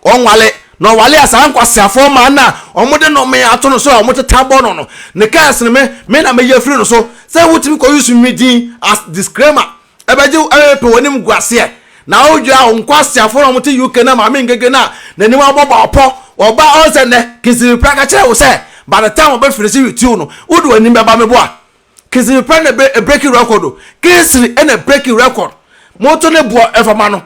ɔnwale na ɔwale a saa nkwaseafoɔ maa no a ɔmo de no me ato no so a ɔmo teta bɔ no no ne kɛs no me me na meyɛ firi no so sɛ wotumi kɔ use me din as disclaimer Ɛbɛgye wo ɛrepe w'animguaseɛ na wodwira wo nkwaseafoɔ no a wɔte UK na Maame Ngege no a n'anim abɔ bɔɔpɔ wɔ ba ɔn sɛ nnɛ Kinsipipra ka kyerɛɛ wo sɛ by the time ɔbɛ finisi YouTube no wode w'anim bɛba me boa Kinsipipra na ɛbɛ breaki record o Kinsiri na breaki record moto ne boɔ ɛfa ma no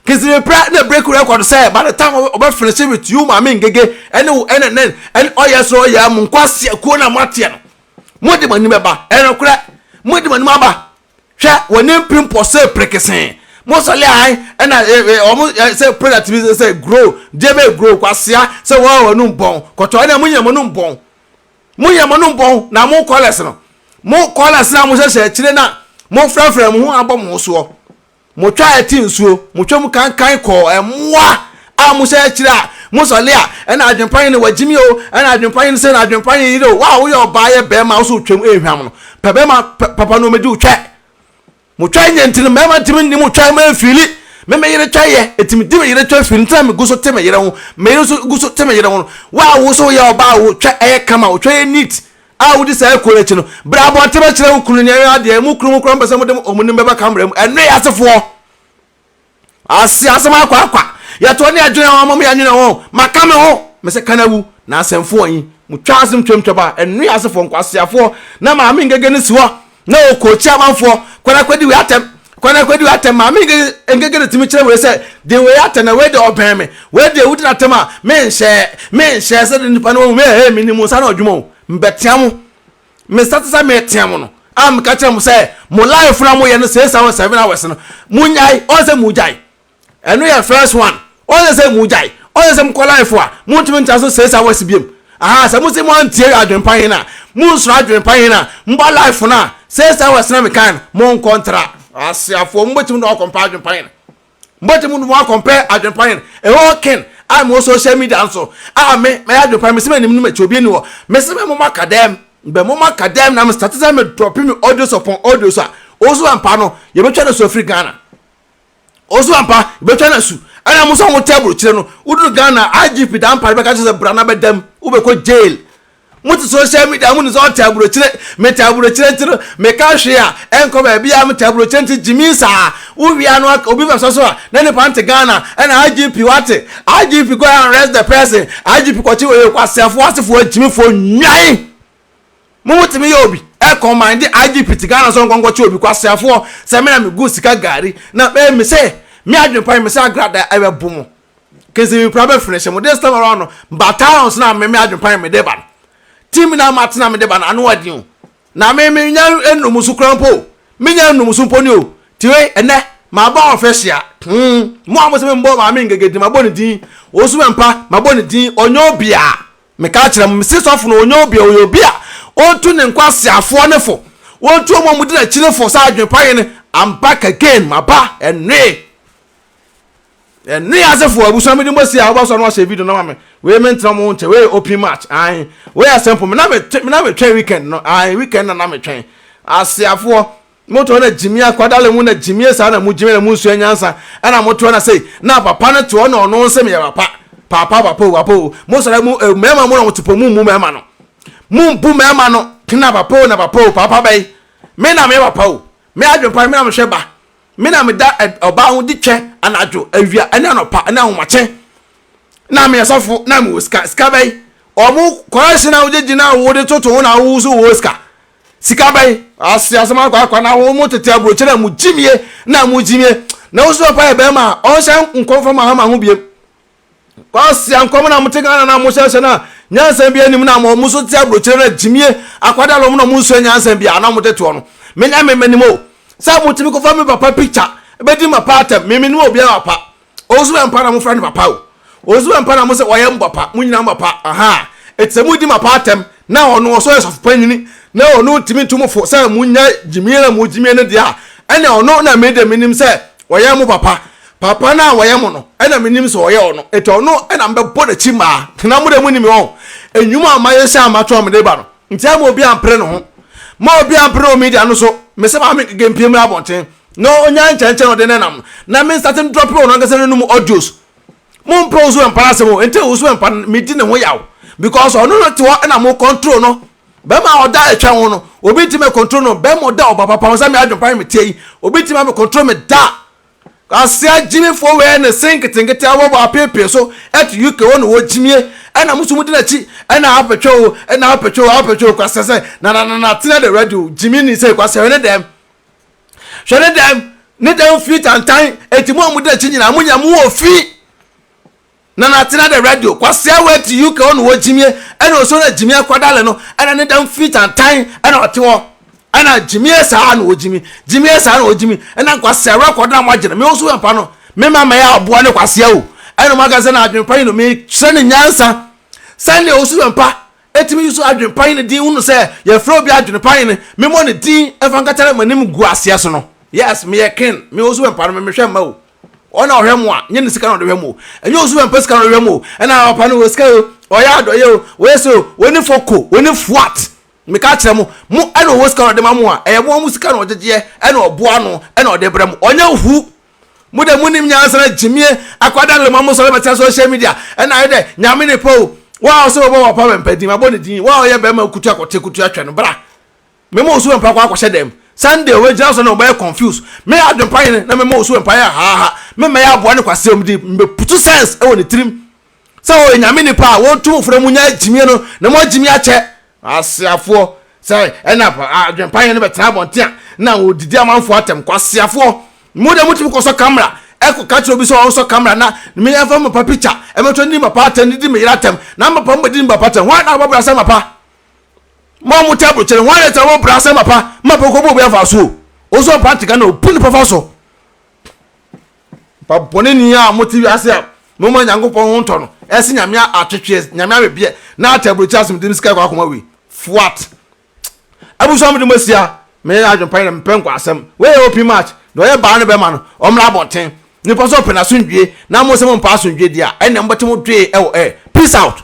Kinsipipra na breaki record sɛ by the time ɔbɛ finisi with you Maame Ngege ɛne wo ɛne nen ɛne ɔyɛ soro ɔyɛ mo nkwaseakuo no a moateɛ no mode mo anim bɛba ɛnokorɛ mode mo anim aba hwɛ wɔn ne mpem pɔsee perekesee mo sɔle ahan ɛna ɛ ɛ wɔn ɛ sɛ product bi sɛ grow deɛ bɛ grow kwasia sɛ wɔn a wɔn nom bɔn kɔtɔ ɛna mo nyɛ mo nom bɔn mo nyɛ mo nom bɔn na mo kɔlɛs no mo kɔlɛs na mo hyehyɛ akyire na mo frɛfrɛ mo ho abɔ mo soɔ. Motwa ɛte nsuo, motwa mu kankan kɔɔ mmoa a mohyɛ akyire a mosɔle a, ɛna adwempa yi ne wagyimi o, ɛna adwempa yi ne sɛ na adwempa yi yere o, wo a woyɛ ɔbaa yɛ bɛɛma wo so wotwam ɛnhwam no, pɛ bɛɛma papa no ɔmɛdi wo twa. Motwa nyɛ nti no mɛɛma ntimi nni mo twa mɛ fiili, me me yere twa yɛ nti medi me yere twa fiili nti na me gu so te me yere ho, me yere nso gu so te me yere ho no, wo a wo so woyɛ ɔbaa wo twa ɛyɛ kama, wo twa yɛ neat. A Wodi saa akuo no akyi no, bra abɔnten bɛkyerɛ wo kunu ne ɛyɔn adeɛ, emu kunu mu koraa wɔmpɛ sɛ wɔde wɔn nim bɛba kamera mu. Ɛno yɛ asefoɔ. Ase asɛm akɔ akwa. Yɛtoɔ ne adwene wɔn mom yɛnwene ho. Maka me ho. Me se kan awu. Na asɛmfoɔ yi, motwa asem twam twaba. Ɛno yɛ asefoɔ, nkwaseafoɔ. Na maame ngege no si hɔ. Na wɔ kɔ kyi amanfoɔ kwan akɔdi wei atɛm kwan akɔdi wei atɛm maame nkeke nkeke na tumi kyerɛ wei sɛ de wei atɛm na wei de ɔbɛn me wei de ewudi n'atɛm a me nhyɛɛ me nhyɛɛ sɛ de nipa no wɔn mu ɛɛ me nim nsa na ɔdwuma o mbɛtea mo me nsa te sɛ meetea mo no a meka kyerɛ mo sɛ mo life na mo yɛ no six hours seven hours no mo nyae ɔn sɛ mo gyae ɛno yɛ first one ɔsɛ sɛ mu gyae ɔsɛ sɛ mokɔ life a montumi ntra so six hours biom aha sɛ mo se mo antie adwenpa yi na mo nsoro adwenpa yi na mba life na six hours na mekan no mo nkɔ ntra aseafoɔ mo bɛtumi na ɔkɔmpa adwenpa yi mo bɛtumi na mo akɔmpa adwenpa yi ɛhɔ ken a mo social media nso a me mɛyɛ adwenpa yi me se me nim no mɛkyi obi ni hɔ me se me mo ma kadɛm bɛ mo ma kadɛm na me start sɛ me drop me audio sɔpɔn audio so a ɔso ampa no yɛbɛtwa no so afiri Ghana ɔso ampa bɛtwa no asu ɛna mo sɛ motɛ burokyerɛ no woduru ghana igp da mpare bɛka kyerɛ sɛ bra na bɛdam wobɛkɔ jail mote social media mo ne sɛ ɔtɛ aburokyerɛ metɛ aburokyerɛ nti no meka hwee a ɛnkɔ baabi a metɛ aburokyerɛ nti gyimi saa wowia no obi bɛsɔ so a na nipa nte ghana ɛna igp wate igp go and arrest the person igp kɔkye wɔ yɛ kwaseafoɔ asefoɔ agyimifoɔ nwan Mo mo tumi yɛ obi ɛ kɔmande IGP te Ghana sɛ ɔnkɔ nkɔ kyɛ obi kwaseafoɔ sɛ me na me gu sika gari na me me sɛ me adwene pa me sɛ agrada ɛ bɛ bo mo kese me pira bɛ finish mo this time around no ba talons na me me adwene pa me de ba no ti me na ma tena me de ba no ano ɔden o na me me nya enum so kura mpo o me nya enum so mpo ni o ti wei ɛnɛ ma ba ɔfɛ hyia hmm mo a mo sɛ me mbɔ maame ngegedi ma bɔ ne din osu mɛ mpa ma bɔ ne din ɔnyɛ obia. Mekaa kyerɛɛ mo, mese sɔfo no ɔnyɛ obi a, ɔyɛ obi a ɔntu ne nkwaseafoɔ no fo, ɔntu wɔn a wɔdi n'akyiri fo, saa adwene pa hene, I'm back again, maba, ɛnoe, ɛnoe asefoɔ, abusua mede mo asi a, wobɛsɔ no ahyɛ video no ma me, wei mentena mo ho nkyɛ, wei open match, ae, wei asɛmpo, me na metwɛn weekend no, ae, weekend na na metwɛn, aseafoɔ, Motoɔ na gyimie akwadaa le mu na gyimie saa na mo gyimie na mo nsua nyansa ɛna motoɔ na sei na papa no toɔ na ɔno nse meyɛ papa papa papa o papa o mo sɔre mo eh, mɛɛma mo na mo topo mo mmu mɛɛma no mo mbu mɛɛma no kena papa o na papa o papa bɛyi me na meyɛ papa o me adwen pa me na mehwɛ ba me na meda ɔbaa ho di twɛ anadwo awia ɛne anɔpa ɛne ahomakye na meyɛ sɔfo na mewɔ sika sika bɛyi ɔmo kɔrɛhye na wogye gyina a wode toto ho na wowo so wɔ sika Sika bɛn? Ase asɛm akɔ akɔ na wɔn mo tete aburokyerɛ a mo gyimie na mo gyimie na wosi papa yɛ bɛrima a ɔnhyɛ nkɔm fa ma hama ho biem. Kwasi ankɔm na mo te Ghana na mo hyɛ hyɛ na nyansa bi anim na mo mo so te aburokyerɛ na gyimie akwada lɔm na mo nsua nyansa bi a na mo te toɔ no. Menya me menim o. Sɛ mo tumi kɔfa me papa picture bɛdi ma pa atɛm me menim obiara pa. Ɔwosoma mpa na mofra no papa o. Ɔwosoma mpa na mose ɔyɛ mopapa, mo nyina mopapa, aha. Ɛti sɛ modi mapa atɛm na ɔno ɔsɛ ɔyɛ sɔfopanyini na ɔno ntimi ntu mo fo sɛ monya gyimie na mogyimie no deɛ a, ɛne ɔno na mede menim sɛ ɔyɛ mo papa. Papa no a ɔyɛ mo no, ɛna menim sɛ ɔyɛ ɔno. Ɛti ɔno na mebɛbɔ n'akyi mmaa. Na mode moni me wɔn. Ɛnwuma a mayɛ hyɛ a mato a mede ba no, nti ama obi ampere ne ho. Ma obi ampere wɔ media no so, mese maame Ngege mpie mmra abɔnten, Na ɔnyaa nkyɛnkyɛn ɔde nenam no. Na me nsatem drɔpe ɔno ankasa n'anum audios. Mompɛ Owusu Ɛmpa no asɛm o, nti Owusu Ɛmpa no medi ne ho yaw because ɔno na ɔte hɔ na mo control no. Bɛrima a ɔda ɛtwɛn ho no, obi ntumi ɛ control no. Bɛrima a ɔda ɔba papa ho sɛ me Adwempa ne me teɛ yi, obi ntumi abɛ control me da. Kwasea gyimifoɔ wei ne se nketenkete a wɔbɔ apeepee so at UK hɔ na ɔwɔ gyimie ɛna mo nso modi n'akyi ɛna apɛtwɛ o ɛna apɛtwɛ o apɛtwɛ o kwasea sɛ na na na na tena de ready o gyimi ni sɛ kwasea wei ne dɛm hwɛ ne dan ne dan firi tantan eti mu a mo da akyi nyinaa mo nyinaa mo wɔ fi na na atena de radio kwasia wɔ ti uk ɔno wɔ gyimie ɛna ɔsɔ na gyimie akwadale no ɛna ne dan firi tantan ɛna ɔte hɔ ɛna gyimie saa na ɔgyimi gyimie saa na ɔgyimi ɛna kwasia wɔ akɔda na mo agyina me nso yɛ pa no me ma ma yɛ aboa ne kwasia o ɛna mo aka sɛ na adwene pa yi no me kyerɛ ne nyansa sɛnea ɔsɔ yɛ pa Etumi susu adwenepan ne din hunu sɛ yɛfrɛ obi adwenepan ne me mmɔ ne din mfa nkata ne m'anim gu aseɛ so no. Yes meyɛ ken me osu wɛmpa no me mehwɛ mma o ɔn na ɔhwɛ mo a nyɛ ne sika na ɔde hwɛ mo o ɛnyɛ osu wɛmpa sika na ɔde hwɛ mo o ɛna papa no wɔ sika o ɔyɛ adɔyɛ o ɔyɛ sɛ o ɔni foko ɔni fuat meka akyerɛ mo mo ɛna ɔwɔ sika na ɔde ma mo a ɛyɛ mo a mo sika na ɔgyegyeɛ ɛna ɔboa ano ɛna ɔde brɛ mo ɔnyɛ hu mo de munim nyansana gyimie akwadaa no lema mo sɔre bɛtena social media ɛna ayɛ dɛ nyame ne pɛ o wa a ɔsɛ wɔbɔ wɔpa mɛmpa din mabɔ ne din wa a ɔyɛ bɛrima kutu akɔte kutu atwɛ no bra mema ɔsu mɛmpa kɔ akɔhyɛ dɛm sunday wɔagyina so na wɔbɛyɛ confuse me adwempa yene na mema ɔsu mɛmpa yɛ haaha memmɛyɛ aboa ne kwasea ɔmde mbɛputu sense ɛwɔ ne tirim sɛ wɔyɛ Nyame nnipa a wɔntu mo fona mu nya gyimie no na mo agyimie akyɛ. Kwaseafoɔ, sɛ ɛna adwenpayɛ no bɛtena abɔnten a na wɔdidi amanfoɔ atɛm. Kwaseafoɔ, mo deɛ motumi kɔsɔ camera ɛkɔ ka kyerɛ obi sɛ ɔnsɔ camera na me ɛmfa me papa picture ɛmɛtɔ ne papa atɛm ne di me yere atɛm na me papa mo bɛdi me papa atɛm hwan na wɔbɛbra sɛ mapa mo a mo tɛ abrokyere hwan na ɛtɛ wɔbɛbra sɛ mapa mapa kɔbɔ obi afa so o ɔsɔ pante ka na ɔbu ne papa so Ba bɔne ni a mo te wiase a mo ma Nyankopɔn ho ntɔ no, ɛse Nyame atwetweɛ, Nyame awebeɛ, na ate aburokyi asomdie no sika kɔ akoma wei. Fuat. Abusua a mode mo asia, menyɛ adwene pa yi na mepɛ nkwasɛm. Wei yɛ open march, deɛ ɔyɛ baa ne bɛma no, ɔmmra abɔnten. Nipa sɛ ɔpɛ n'asomdwie na mo se mo mpɛ asomdwie deɛ a, ɛnneɛ mobɛte mo dwee ɛwɔ air. Peace out.